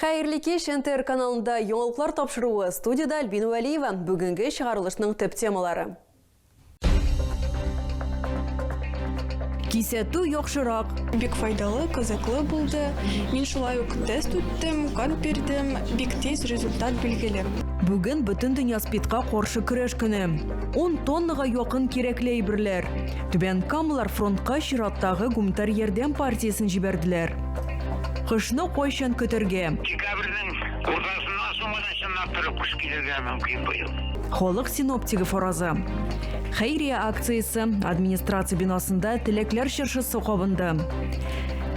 Хәерле кич, НТР каналында яңалыклар тапшыруы, студиядә Альбина Вәлиева. Бүгенге чыгарылышның төп темалары. Кисәтү яхшырак. Бик файдалы, кызыклы булды. Мин шулай ук тест үттем, кан бирдем, бик тиз результат билгеле. Бүген Бөтендөнья СПИДка каршы көрәш көне. Ун тоннага якын кирәкле әйберләр. Түбән Камалар фронтка чираттагы гуманитар ярдәм партиясен җибәрделәр. Кышны кайчан көтергә? Декабрьнең уртасыннан соң гына чынлап торып кыш килергә мөмкин быел. Халык синоптигы фаразы. Хәйрия акциясе, администрация бинасында Теләкләр чыршысы кабынды.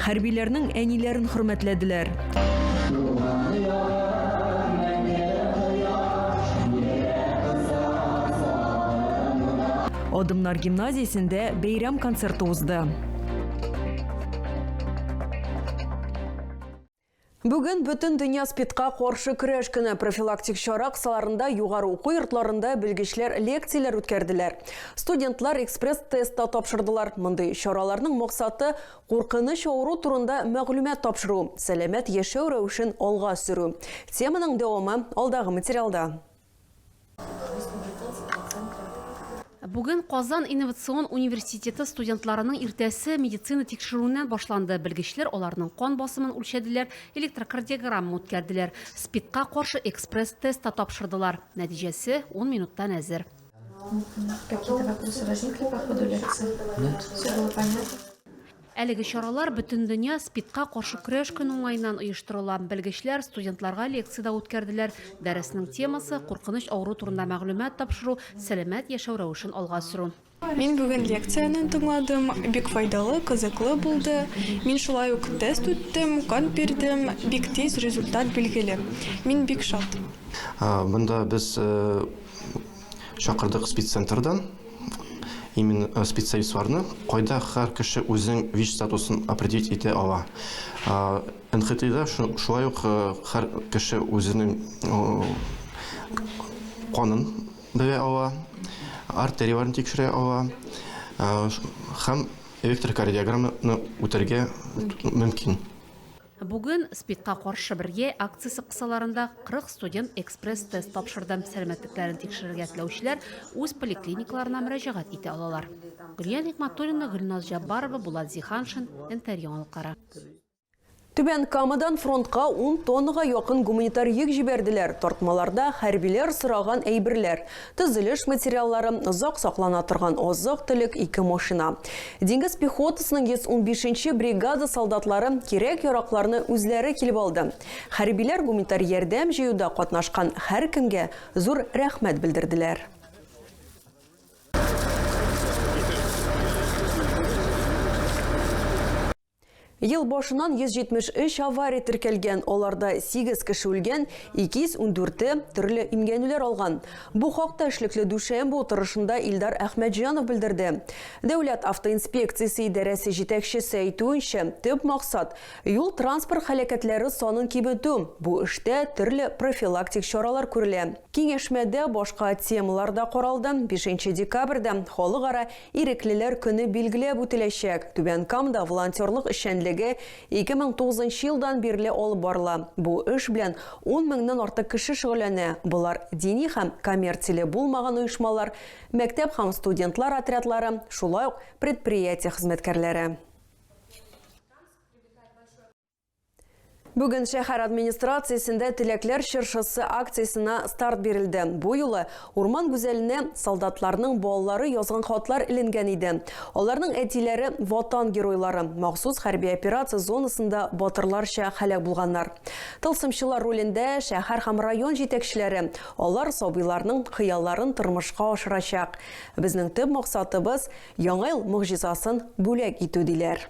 Хәрбиләрнең әниләрен хөрмәтләделәр. Адымнар гимназиясендә бәйрәм концерты узды. Бүген бөтен дөнья спидка каршы көрәш көне профилактик чара кысаларында югары уку йортларында белгечләр лекцияләр үткәрделәр. Студентлар экспресс-тестта тапшырдылар. Мондый чараларның максаты куркыныч авыру турында мәгълүмат тапшыру, сәламәт яшәү рәвешен алга сөрү. Теманың дәвамы алдагы материалда. Бүген Казан инновацион университеты студентларының иртәсе медицина тикшерүеннән башланды. Белгечләр аларның кан басымын үлчәделәр, электрокардиограмма үткәрделәр, СПИДка каршы экспресс-тест та тапшырдылар. Нәтиҗәсе 10 минуттан әзер. Какие-то вопросы возникли по ходу лекции? Нет. Все было понятно? Әлеге чаралар Бөтендөнья СПИДка каршы көрәш көне уңаеннан оештырыла. Белгечләр студентларга лекция дә үткәрделәр. Дәресенең темасы, куркыныч авыру турында мәгълүмат тапшыру, сәламәт яшәү рәвешен алга сөрү. Мин бүген лекцияне тыңладым, бик файдалы, кызыклы булды. Мин шулай ук тест үттем, кан бирдем, бик тиз результат билгеле. Мин бик шат. Монда без Чакырдык спеццентрдан именно э, специалистларны, кайда һәр кеше үзенең ВИЧ статусын определить итә ала. НХТИда шулай ук э, һәр кеше үзенең канын белә ала, артерияләрен тикшерә ала һәм электрокардиограмманы үтәргә мөмкин. Бүген СПИДка каршы бергә акциясе кысаларында 40 студент экспресс-тест тапшырды. Сәламәтлекләрен тикшерергә теләүчеләр үз поликлиникаларына мөрәҗәгать итә алалар. Гөлия Нигъмәтуллина, Гөлназ Җаббарова, Булат Зиһаншин, НТР яңалыклары. Түбән Камадан фронтка ун тоннага якын гуманитар йөк җибәрделәр. Тартмаларда хәрбиләр сораган әйберләр, Төзелеш материаллары, озак саклана торган азык-төлек, ике машина. Диңгез пехотасының 115 нче бригада солдатлары кирәк-яракларны үзләре килеп алды. Хәрбиләр гуманитар ярдәм җыюда катнашкан һәркемгә зур рәхмәт белдерделәр. Ел башыннан 173 авария теркәлгән, аларда 8 кеше үлгән, 214-е төрле имгәнүләр алган. Бу хакта эшлекле дүшәмбе утырышында Илдар Әхмәтҗанов белдерде. Дәүләт автоинспекциясе идарәсе җитәкчесе әйтүенчә, төп максат, юл-транспорт һәлакәтләре санын киметү. Бу эштә төрле профилактик чаралар күрелә. Киңәшмәдә башка темалар да каралды, 5 декабрьдә Халыкара Иреклеләр көне билгеләп үтеләчәк. Түбән Камда волонтерлык эшчәнлеге 2009 нчы елдан бирле алып барыла. Бу эш белән ун меңнән артык кеше шөгыльләнә, болар, дини һәм коммерцияле булмаган оешмалар, мәктәп һәм студентлар отрядлары, шулай ук предприятие хезмәткәрләре. Бүген шәһәр администрациясендә Теләкләр чыршысы акциясенә старт бирелде. Бу юлы урман гүзәленә солдатларның балалары язган хатлар эленгән иде. Аларның әтиләре Ватан геройлары, махсус хәрби операция зонасында батырларча һәлак булганнар. Тылсымчылар ролендә шәһәр һәм район җитәкчеләре, алар сабыйларның хыялларын тормышка ашырачак. Безнең төп максатыбыз, Яңа ел могҗизасын бүләк итү, диләр.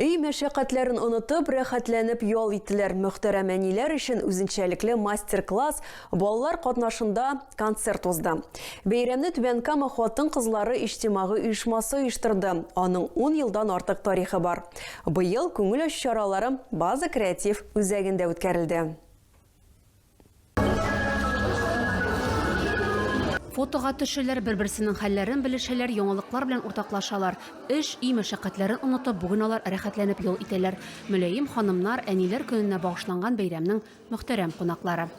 Өй мәшәкатьләрен онытып, рәхәтләнеп ял иттеләр. Мөхтәрәм әниләр өчен үзенчәлекле мастер-класс, балалар катнашында концерт узды. Бәйрәмне Түбән Кама хатын-кызлары иҗтимагый оешмасы оештырды. Аның 10 елдан артык тарихы бар. Быел күңел ачу чаралары База креатив үзәгендә үткәрелде. Фотога төшәләр, бер-берсенең хәлләрен белешәләр, яңалыклар белән уртаклашалар. Эш, өй мәшәкатьләрен онытып, бүген алар рәхәтләнеп ял итәләр. Мөләем ханымнар, әниләр көненә багышланган бәйрәмнең мөхтәрәм кунаклары.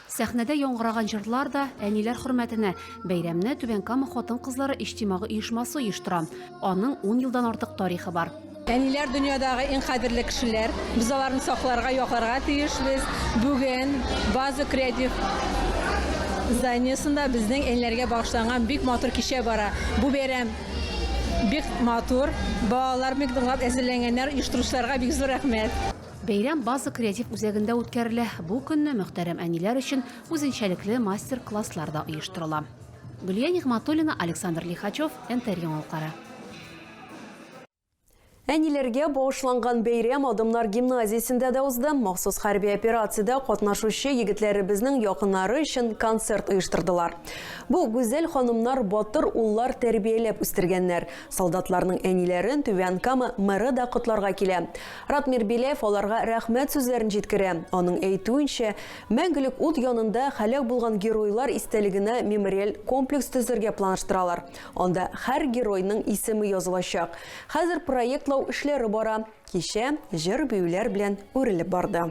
Сәхнәдә яңгыраган җырлар да, әниләр хөрмәтенә. Бәйрәмне Түбән Кама хатын-кызлары иҗтимагый оешмасы оештыра. Аның ун елдан артык тарихы бар. Әниләр дөньядагы иң кадерле кешеләр. Без аларны сакларга, якларга тиешбез. Бүген Ваза креатив зданиесында безнең әниләргә багышланган бик матур кичә бара. Бу бәйрәм бик матур. Балалар бик ныклап әзерләнгәннәр. Оештыручыларга бик зур рәхмәт. Бәйрәм База креатив үзәгендә үткәрелә. Бу көнне мөхтәрәм әниләр өчен үзенчәлекле мастер-класслар да оештырыла. Гөлия Нигъматуллина, Александр Лихачев, НТР яңалыклары. Әниләргә багышланган бәйрәм Адымнар гимназиясендә дә узды. Махсус хәрби операциядә катнашучы егетләребезнең якыннары өчен концерт оештырдылар. Бу гүзәл ханымнар батыр уллар тәрбияләп үстергәннәр. Солдатларның әниләрен Түбән Кама мэры да котларга килә. Радмир Беляев аларга рәхмәт сүзләрен җиткерә. Аның әйтүенчә, Мәңгелек ут янында һәлак булган геройлар истәлегенә мемориаль комплекс төзергә планлаштыралар. Анда һәр геройның исеме язылачак. Хәзер проектлау эшләре бара. Кичә җыр-биюләр белән үрелеп барды.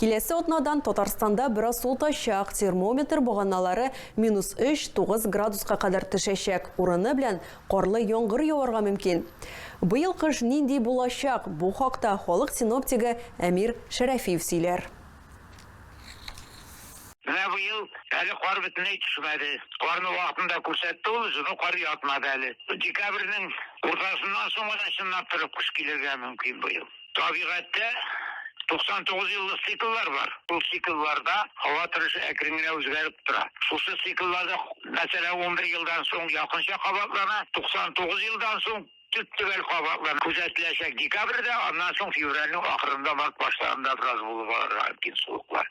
Киләсе атнадан Татарстанда бераз суытачак, термометр баганалары минус өч, тугыз градуска кадәр төшәчәк, урыны белән карлы яңгыр яварга мөмкин. Быел кыш нинди булачак, бу хакта халык синоптигы Әмир Шәрәфиев сөйләр. Менә быел әле кар бөтенләй төшмәде. Карны вакытында күрсәтте ул үзе, но кар ятмады әле. Декабрьнең уртасыннан соң гына чынлап торып кыш килергә мөмкин быел. Табигатьтә 99 еллык цикллар бар. Ул циклларда һава торышы әкрен генә үзгәреп тора. Шушы цикллар да, мәсәлән, унбер елдан соң якынча кабатлана, 99 елдан соң төп-төгәл кабатлана. Күзәтеләчәк декабрьдә, аннан соң февральнең ахырында, март башларында бераз булып алырга мөмкин суыклар.